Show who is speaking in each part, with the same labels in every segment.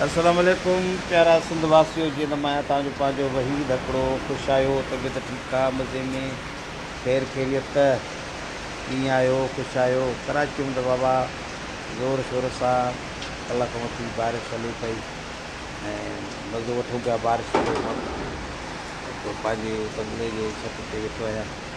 Speaker 1: السلام عليڪم پيارا سنڌ واسيو جي نم آهيان توهان جو پنهنجو وحيد هڪڙو خوش آهيو طبيعت ٺيڪ آ مزي ۾ خير خيريت ڪيئن آهيو خوش آهيو ڪراچيء ۾ ته بابا زور شور سان ڪلهه کان وٺي بارش هلي پئي ۽ مزو وٺون پيا بارش جو پنهنجي بنگلي جي ڇت تي ويٺو آهيان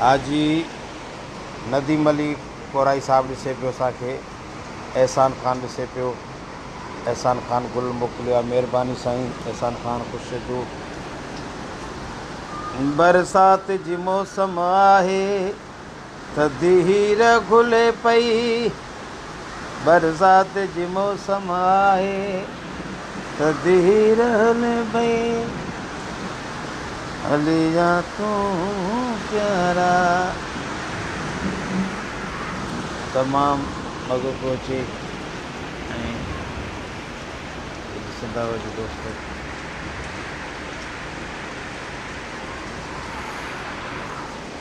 Speaker 1: حاجي نديم علي ڪورائي صاحب ڏسي پيو اسان کي احسان خان ڏسي پيو احسان خان گل موڪليو آ مھرباني سائين احسان خان خوش رھجو. برسات جي موسم آهي ته ديهير گهلي پئي. برسات جي موسم آهي ته ڌير هلي پئي هلي جا تون پيارا تمام مزو پيو اچي ۽ سڌا وجه دوستو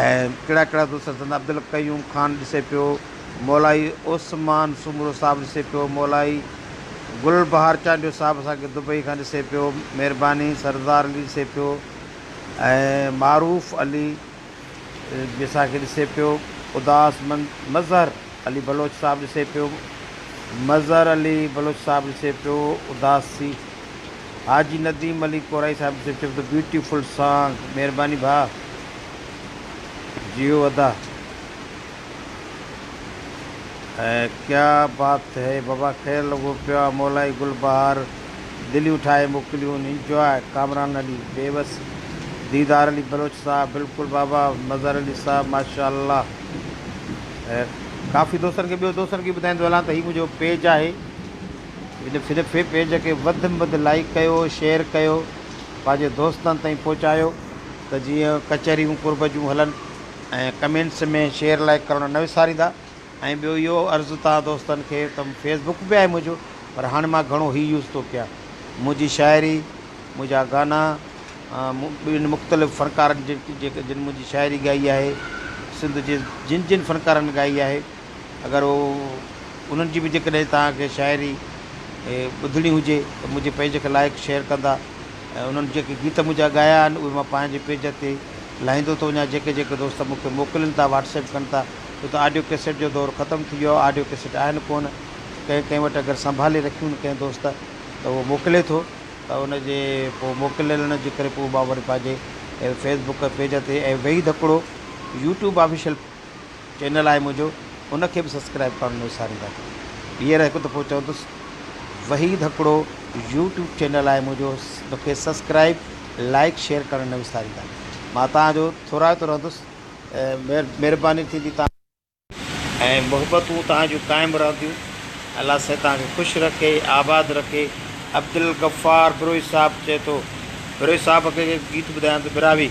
Speaker 1: ۽ ڪهڙا ڪهڙا دوست سڏندا، عبدالقيوم خان ڏسي پيو، مولائي عثمان سومرو صاحب ڏسي پيو، مولائي گل بهار چانڊيو صاحب اسان کي دبئي کان ڏسي پيو، مهرباني سردار علي ڏسي پيو ۽ معروف علي به اسان کي ڏسي پيو، اداس مند مظهر علي بلوچ صاحب ڏسي پيو، مظهر علي بلوچ صاحب ڏسي پيو، اداسي. حاجي نديم علي ڪورائي صاحب جو چيو ته بيوٽيفل سانگ مھرباني ڀاء جيو ادا ۽ ڪيا بات ھي بابا خير لڳو پيو آ مولائي گل بهار دليون ٺاهي موڪليون انجواء ڪامران علي بيوس ديدار علي بلوچ صاحب بلڪل بابا مظهر علي صاحب ماشاءالله ۽ ڪافي دوستن کي ٻيو دوستن کي ٻڌائيندو هلان ته هي منهنجو پيج آهي هن پيج کي وڌ م وڌ لائيڪ ڪيو شيئر ڪيو پنهنجي دوستن تائين پهچايو ته جيئن ڪچهريون قرب جون هلن ۽ ڪمينٽس ۾ شيئر لائيڪ ڪرڻ نه وساريندا ۽ ٻيو اهو عرض ته دوستن کي ته فيس بڪ به آهي منهنجو پر هاڻي مان گهڻو هي يوز ٿو ڪيان منهنجي شاعري منهنجا گانا ٻين مختلف فنڪارن جن جن منهنجي شاعري ڳائي آهي سنڌ جي جن جن فنڪارن ڳائي آهي اگر هو انهن جي به جيڪڏهن توهان کي شاعري ٻڌڻي هجي ته منهنجي پيج کي لائيڪ شيئر ڪندا ۽ انهن جيڪي گيت منهنجا ڳايا آهن اهي مان پنهنجي پيج تي لاهيندو ٿو وڃان جيڪي جيڪي دوست مون کي موڪلين ٿا واٽس ايپ ڪن ٿا ڇو ته آڊيو ڪيسٽ جو دور ختم ٿي ويو آهي آڊيو ڪيسٽ آهن ڪونه ڪنهن ڪنهن وٽ اگر سنڀالي رکيون ڪنهن دوست ته اهو موڪلي ٿو ته ان جي پوء موڪليلڻ جي ڪري پوء مان وري پنهنجي فيسبوڪ پيج تي ۽ وحيد هڪڙو يوٽيوب آفيشل چينل آهي منهنجو ان کي به سبسڪرائب ڪرڻ نه وسارينداڪيو هينئر هڪ دفعو چوندس وحيد هڪڙو يوٽيوب چينل آهي منهنجو ان کي سبسڪرائب لائيڪ شيئر ڪرڻ نه وساريندا مان توهان جو ٿورائتو رهندس مهرباني ٿيندي توهان جي ۽ محبتون توهان جون قائم رهنديون الله سائين توهان کي خوش رکي آباد رکي عبدالغفار بروهي صاحب چئي ٿو بروهي صاحب کي گيت ٻڌايان ته براهوي.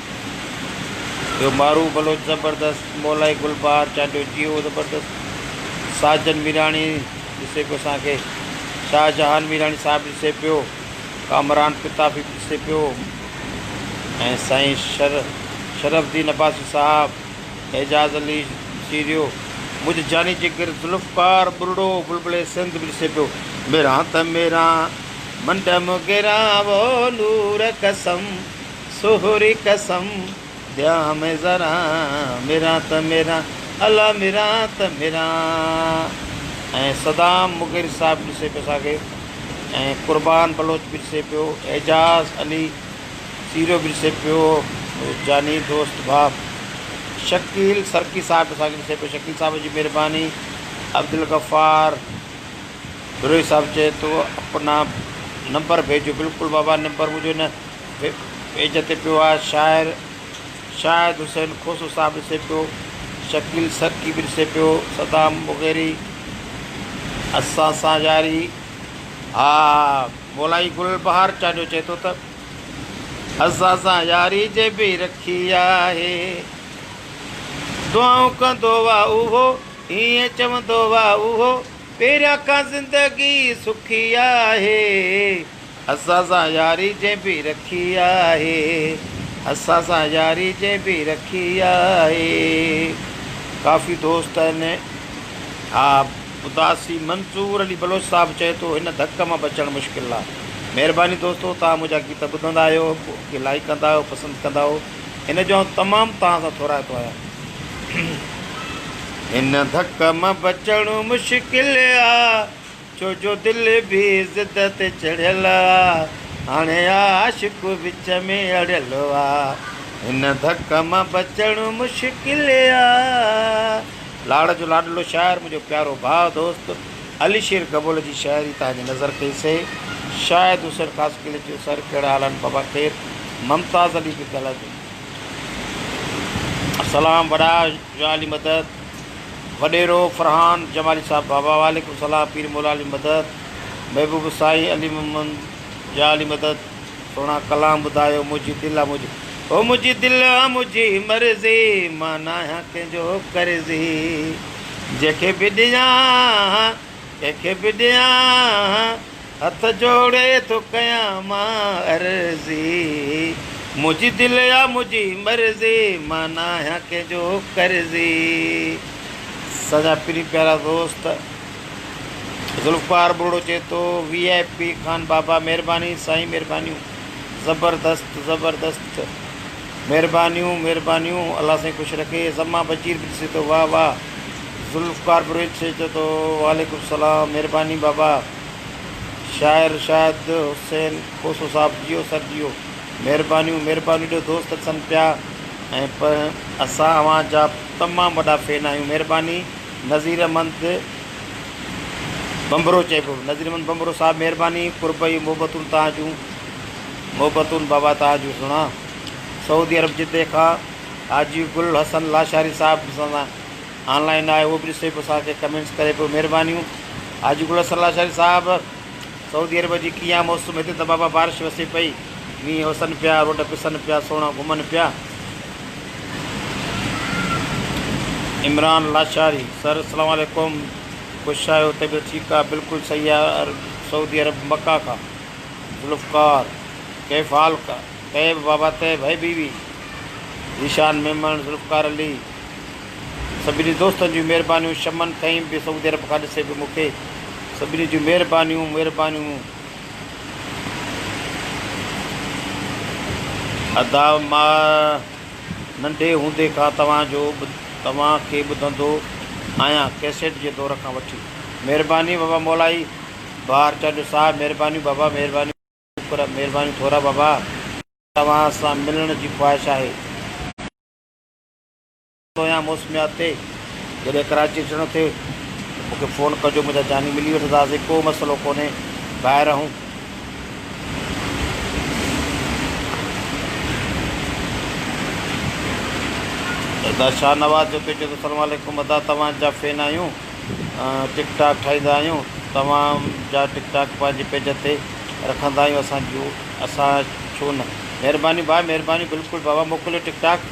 Speaker 1: ٻيو مارو بلوچ زبردست، مولائي گلبهار چانڊيو جيئو زبردست، ساجن ميراڻي ڏسي پيو اسان کي، شاهه جهان ميراڻي صاحب ڏسي پيو، ڪامران پتافي به ڏسي پيو ۽ سائين شرف الدين عباسي صاحب، اعجاز علي چيريو، منهنجو جاني جگر ذوالفقار ٻرڙو بلبلي سنڌ به ڏسي پيو. ميران ته ميران منڊم گيران وو نور قسم. سهري قسم ڏيان مين ذرا مران ته مران الا مران ته مران ۽ صدام مغير صاحب ڏسي پيو اسان کي ۽ قربان بلوچ به ڏسي پيو اعجاز علي سيرو به ڏسي پيو جاني دوست ڀاء شڪيل سرڪي صاحب به اسان کي ڏسي پيو شڪيل صاحب جي مهرباني عبدالغفار بروهي صاحب چئي ٿو اپنا نمبر ڀيجو بلڪل بابا نمبر مجھو نه هڪ پيج تي پيو آهي شاعر شاهد حسين کوسو صاحب ڏسي پيو، شڪيل سرڪي به ڏسي پيو، صدام مغيري اسان سان ياري ها مولائي گل بهار چانڊيو چئي ٿو ته اسان سان ياري جي به رکي آهي دعائون ڪندو وا اهو ائين چوندو وا اهو پهريان کان زندگي سکي آهي اسان سان ياري جنهن به رکي آهي اسان سان ياري جنهن به رکي آهي ڪافي دوست آهن ها اداسي منظور علي بلوچ صاحب چئي ٿو هن ڌڪ مان بچڻ مشڪل آهي مهرباني دوستو توهان منهنجا گيت ٻڌندا آهيو کي لائيڪ ڪندا آهيو پسند ڪندا آهيو ان جو آئون تمام توهان سان ٿورائتو آهيان هن ڌڪ مان بچڻ مشڪل آهي ڇو جو دل به ضد تي چڙهيل آ، هاڻي عاشق وچ ۾ اڙيل آ، هن ڌڪ مان بچڻ مشڪل آ. لاڙ جو لاڏلو شاعر منهنجو پيارو ڀاء دوست علي شير گبول جي شاعري تان جي نظر ڪئي سي شايد حسين خاص قلعي جو سر ڪهڙا حال آهن بابا خير ممتاز علي کي ڳالهائجو سلام وڏا. جمال جي مدد، وڏيرو فرحان جمالي صاحب بابا وعليڪم السلام پير موليٰ علي مدد، محبوب سائين علي محمد جا علي مدد سهڻا ڪلام ٻڌايو منهنجي دل آ منهنجي هو منهنجي دل آ منهنجي مرضي مان ناهيان ڪنهن جو قرضي جنهن کي به ڏيان ڪنهن کي به ڏيان هٿ جوڙي ٿو ڪيان مان عرضي. منهنجي دل آ منهنجي مرضي. مان نه آهيان ڪنهن جو قرضي. اسانجا پرين پيارا دوست ذوالفقار ٻروڙو چئي ٿو وي آء پي خان بابا مھرباني سائين مھربانيون زبردست زبردست مھربانيون مھربانيون الله سائين خوش رکي زمان بشير به ڏسي ٿو واھ واھ ذوالفقار بروھيچ چئي ٿو وعليڪم سلام مھرباني بابا. شاعر شاهد حسين کوسو صاحب جيئو سر جيئو. مهربانيون مهربانيون ايڏو دوست اچن پيا ۽ پ اسان اوهان جا تمام وڏا فين آهيون مهرباني نظير احمد ڀنڀرو چئبو نظير احمد ڀنڀرو صاحب مهرباني قرب اهي محبتون توهان جون محبتون بابا توهان جون سڻا سعودي عرب جدي کان حاجي گل حسن لاشاري صاحب سان آن لائين آهي اهو به ڏسي پوء اسان کي ڪمينٽس ڪري پيو مهربانيون حاجي گل حسن لاشاري صاحب سعودي عرب جي ڪيئن آ موسم هتي ته بابا بارش وسي پئي مينهن وسن پيا روڊ پسن پيا سوڻا گهمن پيا عمران لاشاري سر اسلام عليڪم خوش آهيو طبيعت ٺيڪ آ بلڪل صحيح آ سعودي عرب مڪه کان ذوالفقار ڪيف حال طيب بابا طيب هي بيوي ذيشان ميمڻ ذوالفقار علي سڀني دوستن جون مهربانيون شمن کئين به سعودي عرب کان ڏسي به مونکي سڀني جون مهربانيون مهربانيون ادا مان ننڍي هوندي کان توهان جو توهان کي ٻڌندو آهيان ڪيسيٽ جي دور کان وٺي مهرباني بابا مولائي بهار چانڊيو صاحب مهربانيون بابا مهربانيون شڪر مهربانيون ٿورا بابا توهان سان ملڻ جي خواهش آهي. پويان موسميات تي جڏهن ڪراچي اچڻو ٿئي ته مون کي فون ڪجو منهنجا جاني ملي وٺنداسين ڪو مسئلو ڪونهي ڀائر اهون. ادا شاهنواز جو پيچو ته سلام عليڪم ادا توهان جا فين آهيون ٽڪ ٽاڪ ٺاهيندا آهيون توهان جا ٽڪ ٽاڪ پنهنجي پيج تي رکندا آهيون اسان جون اسان ڇو نه مهرباني ڀاء مهرباني بلڪل بابا موڪليو ٽڪ ٽاڪ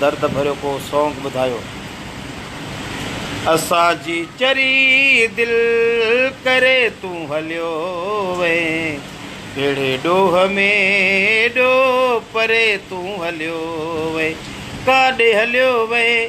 Speaker 1: درد ڀريو ڪو سونگ ٻڌايو. اسان جي چري دل ڪري تون هليو وئين ڪهڙي ڏوهه ۾ ڏو پري تون هليو وئين ڪاڏي هليو وئين.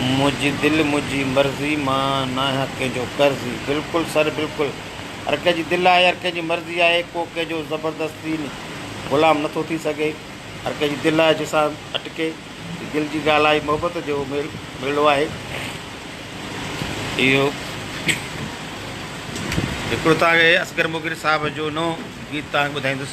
Speaker 1: منهنجي دل منهنجي مرضي مان ناهيان ڪنهن جو قرضي. بلڪل سر بلڪل هر ڪنهن جي دل آهي هر ڪنهن جي مرضي آهي ڪو ڪنهن جو زبردستي غلام نٿو ٿي سگهي هر ڪنهن جي دل آهي جنهن سان اٽڪي هي دل جي ڳالهه آهي محبت جو ميل ميلو آهي اهو هڪڙو توهان کي اصغر مغل صاحب جو نئون گيت توهان کي ٻڌائيندس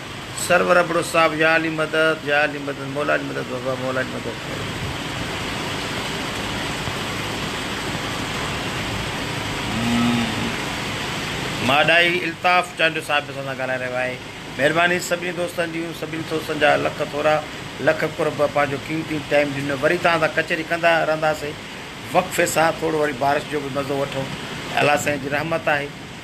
Speaker 1: سرور ابڙو صاحب يا علي مدد يا علي مدد مولا علي مدد بابا مولا علي مدد ڪر. ماڏائي الطاف چانڊيو صاحب به اسان سان ڳالهائي رهيو آهي مهرباني سڀني دوستن جون سڀني دوستن جا لک ٿورا لک قرب پنهنجو قيمتي ٽائيم ڏنو وري توهان سان ڪچهري ڪندا رهنداسين وقفي سان ٿورو وري بارش جو به مزو وٺون الله سائين جي رحمت آهي.